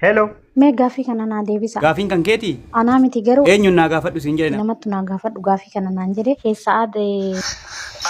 Hello. Mee gaaffii kana naa deebisa. Gaafiin kan keeti? Anaa miti garuu Eenyuun naa gaafadhu siin jedhe nama. namattu naa gaafadhu gaaffii kana naan jedhe keessaa aade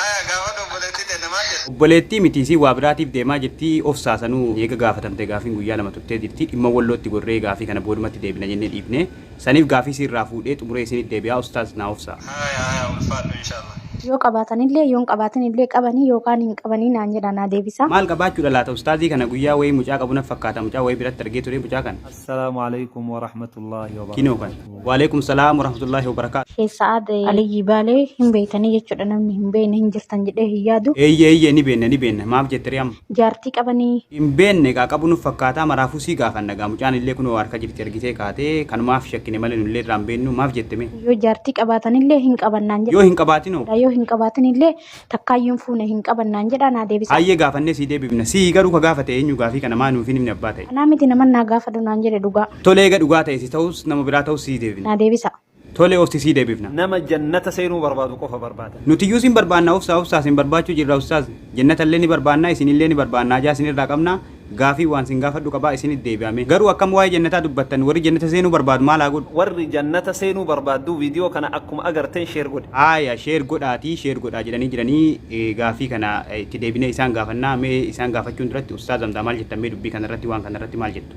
Aya gaafa dhobboleetti deemne maal jedhe? Obboleettii miti isiin waa biraatiif deemaa jirti obsaa sanuu eega gaafatamte gaafiin guyyaa lama turtee jirti dhimma wallootti gorree gaafii kana boodumatti deebina jennee dhiifne. Saniif gaafii si irraa fuudhee xumuree isinit deebi'aa ustaaz naa obsaa. Haya haya ulfaadhu inshallah. Yoo qabaatanillee yoon qabaatinillee qabanii yookaan hin qabanii naan jedhaa naa deebisaa. Maal qabaachuudha laata ustaazii kana guyyaa wayii mucaa qabu naf fakkaata mucaa wayii biratti argee turee mucaa kana. Assalaamu Aleykum Warahmatullaahi Kinoo kana. Wabarakaatuhu. Waleekum salaam warahmatullaahi wabarakaatu. Sheikh Sa'ad Aliyyii Baalee hin beeytanii jechuudha namni hin beeyne hin jirtan jedhee hin yaadu. Eeyyee eeyyee ni beenna ni beenna maaf jette ree amma. Jaartii qabanii? Hin beenne kaa qabu nuf fakkaataa maraafuu sii gaafanna gaa mucaan illee kunoo harka jirti ergitee kaatee kanumaaf shakkine malee nullee irraa hin beennuu maaf jette mee. Yoo jaartii qabaatan illee hin qaban naan jedha. Yoo hin qabaatin hoo? Yoo hin qabaatin illee takkaayyuu hin fuune hin qaban naan jedha naa deebisa. Hayyee gaafannee sii deebifna. Sii garuu ka gaafate eenyu gaafii kana maa nuuf hin himne abbaa ta'e. Anaa miti naman naa gaafadhu naan jedhe dhugaa. Tole eega dhugaa ta'e si ta'us nama biraa ta'us sii deebifna. Naa deebisaa. Tole ofti sii debifna. Nama jannata seenuu barbaadu qofa barbaada. Nutiyyuu sin barbaanna obsaa obsaa sin barbaachuu jirra ustaaz jennatallee ni barbaanna isinillee ni barbaanna hajaa isinirraa qabna gaafii waan sin gaafadhu qaba isinit deebi'a mee garuu akkam waa'ee jannataa dubbattan warri jannata seenuu barbaadu maal haa godhu Warri jannata seenuu barbaadduu video kana akkuma agarteen share godhi. Haaya share godhaatii share godhaa jedhanii jiranii gaafii kana itti deebinee isaan gaafannaa mee isaan gaafachuun duratti ustaaz Hamzaa maal jettan mee dubbii kanarratti waan kanarratti maal jettu.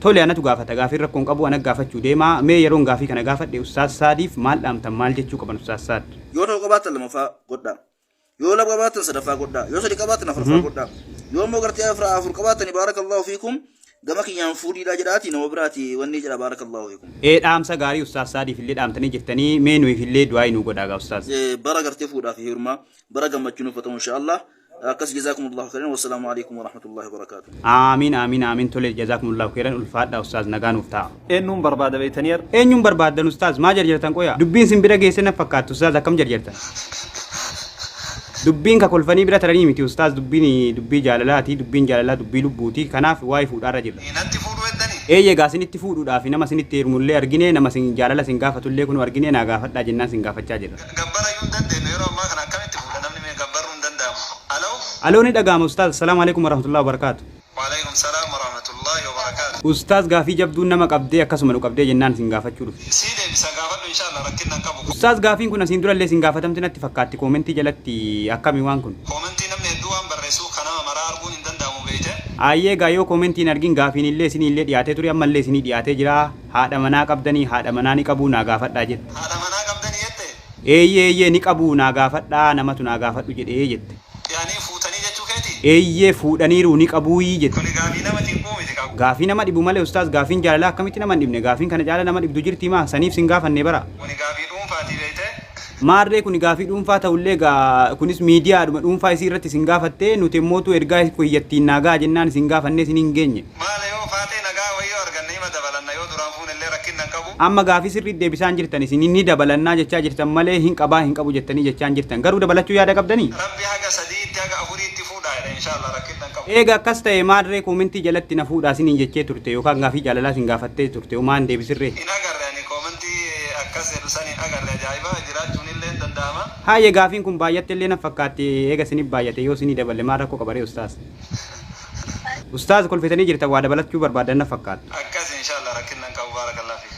Tole anatu gaafata gaafiin rakkoo hin qabu ana gaafachuu deema mee yeroon gaafii kana gaafadhe ustaaz saadiif maal dhaamtan maal jechuu qaban ustaaz saad. Yoo tokko qabaattan lamaffaa godhaa. Yoo lama qabaattan sadaffaa godhaa. Yoo sadi qabaattan afarffaa godhaa. Yoo immoo gartee afra afur qabaattani baarakallaahu fiikum gama kiyyaan fuudhiidhaa jedhaatii nama biraati wannii jedha baarakallaahu fiikum. Ee dhaamsa gaarii ustaaz saadiif illee dhaamtanii jirtanii mee nuyiif illee du'aa'ii nuu godhaagaa ustaaz. bara gartee fuudhaa fi heerumaa bara gammachuu nuuf haa ta'u inshaa Allah. akkas jazakumullahu khairan wassalamu alaikum warahmatullahi wabarakatuh Aamiin aamiin aamiin tole jazaakumullaahu keeran ulfaadha ustaaz nagaa nuuf ta'a. eenyuun barbaada beeytanii ar Eenyuun barbaaddan ustaaz maa jarjartan qoya dubbiin sin bira geesse na fakkaattu ustaaz akkam jarjartan. Dubbiin ka kolfanii bira taranii miti ustaaz dubbiin dubbii jaalalaati dubbiin jaalalaa dubbii lubbuuti kanaaf waa'ee fuudhaarra jirra. natti fuudhu heddanii Eeyyee gaa sinitti fuudhuudhaaf nama sinitti heerumullee argine nama sin jaalala sin gaafatullee kunuu argine naa gaafadhaa jennaan sin gaafachaa jirra. Gabbara iyyuu hin dandeennu yeroo ammaa kana akkamitti fuudha namni mee gabbarruu hin danda'amu aloo. Aloo ni dhaga'ama ustaaz salaam alekum warahmatullahi wabarakatu. Walekum salaam warahmatullahi wabarakatu. Ustaaz gaafii jabduu nama qabdee akkasuma nu qabdee jennaan sin gaafachuu dhufe. Sii deebisa gaafadhu inshallah rakkinna hin qabu. Ustaaz gaafiin kun asiin durallee isin gaafatamte natti fakkaatti koomentii jalatti akkami waan kun. Koomentii namni hedduu waan barreessuuf ka nama maraa arguun hin danda'amu beeyte. Aayyee egaa yoo koomentii hin argin gaafiinillee isiniillee dhiyaatee ture ammallee isinii dhiyaatee jira. Haadha manaa qabdanii? Haadha manaa ni qabuu naa gaafadhaa jedhe. Haadha manaa qabdanii jettee? Eeyyee eeyyee ni qabuu naa gaafadhaa namatu naa gaafadhu jedhee jette. Ce'anii fuutanii jechuu keeti? Eeyyee fuudhaniiru ni qabuuyii jette. Kuni gaafii nama cinquu miti kaa. Gaafii nama dhibu malee ustaaz gaafiin jaalalaa akkamitti nama hin dhibne gaafiin kana caala nama dhibdu jirtii maa saniif sin gaafannee bara. Kuni gaafii dhuunfaati beeytee. Maarree kuni gaafii dhuunfaa ta'ullee egaa kunis miidiyaadhuma dhuunfaa isii irratti isin gaafatte, nuti immootuu ergaa ko iyyattiin naa ga'a jennaan isin gaafannee isin hin geenye. Maale yoo Faaxee nagaa wayii yoo arganne ima dabalanna yoo duraan fuunellee rakkinna hin qabu. Amma gaafii sirriit deebisaan jirtan isin ni dabalannaa jechaa jirtan malee hin qabaa hin qabu jettanii jechaan jirtan. Garuu dabalachuu yaada qabdanii? Rabbi haga sadiitti haga afuriitti fuudhaa jedha inshallah rakkinna hin qabu. Eega akkas ta'e maal ree koomentii jalatti na fuudhaa siniin jechee turte yookaan gaafii jaalalaa sin gaafattee turte homaa hin deebisin ree. Hin agarre ani koomentii akkas jedhu san hin agarre ajaa'iba jiraachuun illee hin danda'ama. Haayye gaafiin kun baay'atte illee naf fakkaatti eega sinif baay'ate yoo sini daballe maal rakko qaba ree ustaaz. Ustaaz kolfitanii jirtan waa dabalachuu barbaaddan naf fakkaattu. Akkasi inshallah rakkinna hin qabu barakallah fiik.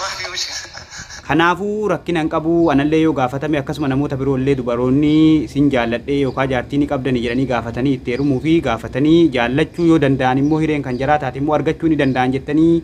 Maali hojii. Kanaafu rakkina hin qabu anallee yoo gaafatame akkasuma namoota biroo illee dubaroonni sin jaalladhee yookaa jaartii ni qabdani jedhanii gaafatanii itti heerumuu fi gaafatanii jaallachuu yoo danda'an immoo hireen kan jaraa taate immoo argachuu ni danda'an jettanii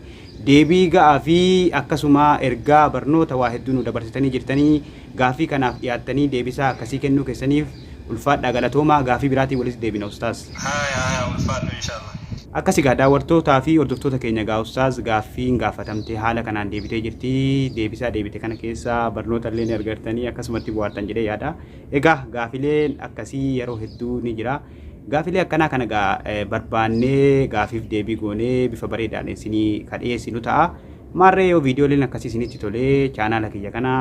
deebii ga'aa fi akkasuma ergaa barnoota waa hedduu nu dabarsitanii jirtanii gaaffii kanaaf dhiyaattanii deebisaa akkasii kennuu keessaniif Ulfaadhaa galatoomaa gaafii biraatiin walitti deebina ustaaz. Haya haya ulfaadhu inshallah. Akkas egaa daawwartootaa fi hordoftoota keenya egaa ustaaz gaaffiin gaafatamte haala kanaan deebitee jirti deebisaa deebite kana keessaa barnoota illee ni argartanii akkasumatti buhaartan jedhee yaada egaa gaafileen akkasii yeroo hedduu ni jira gaafilee akkanaa kana egaa barbaannee gaafiif deebii goonee bifa bareedaan isinii ka dhiyeessinu ta'a maarree yoo viidiyooleen akkasii isinitti tolee chaanaala kiyya kana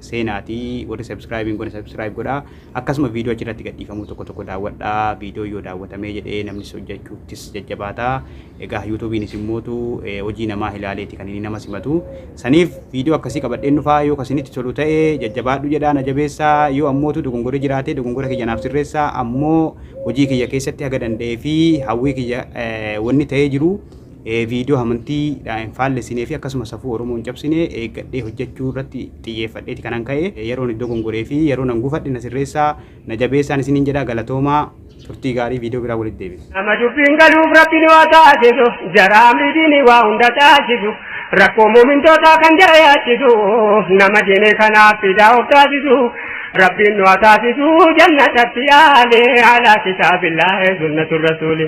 seenaatii warri subscribe hin godhe subscribe godhaa Akkasuma viidiyoo achirratti gadhiifamuu tokko tokko daawwadhaa. Viidiyoon yoo daawwatamee jedhee namnis hojjechuuttis jajjabaata. Egaa yuutuubiinis immootu hojii namaa ilaaleeti kan inni nama simatu. Saniif viidiyoo akkasii qabadheen dhufaa yoo kasinitti tolu ta'e jajjabaadhu jedhaa na jabeessaa yoo ammootu dogongorri jiraatee dogongora kiyya naaf sirreessaa ammoo hojii kiyya keessatti haga danda'ee fi hawwii kiyya wanni ta'ee jiru viidiyoo amantii dhaan hin faallessinee fi akkasuma safuu Oromoo hin cabsine eeggadhee hojjachuu irratti xiyyeeffadheeti kanan ka'e. Yeroon iddoo gongoree fi yeroo nan gufadhe na sirreessaa, na jabeessaan isiniin jedha. Galatoomaa! Turtii gaarii viidiyoo biraan walitti deebina. Nama dubbiin galuuf Rabbiin waa taasisu, jara amrii diinii waa hunda caalchisu, rakkoo mu'mintootaa kan jara yaachisu, nama diinii kanaaf fidaa of taasisu, Rabbiin nu haa taasisu jannatatti aali, alaa kitaabillaahi sunnatu rasuuli.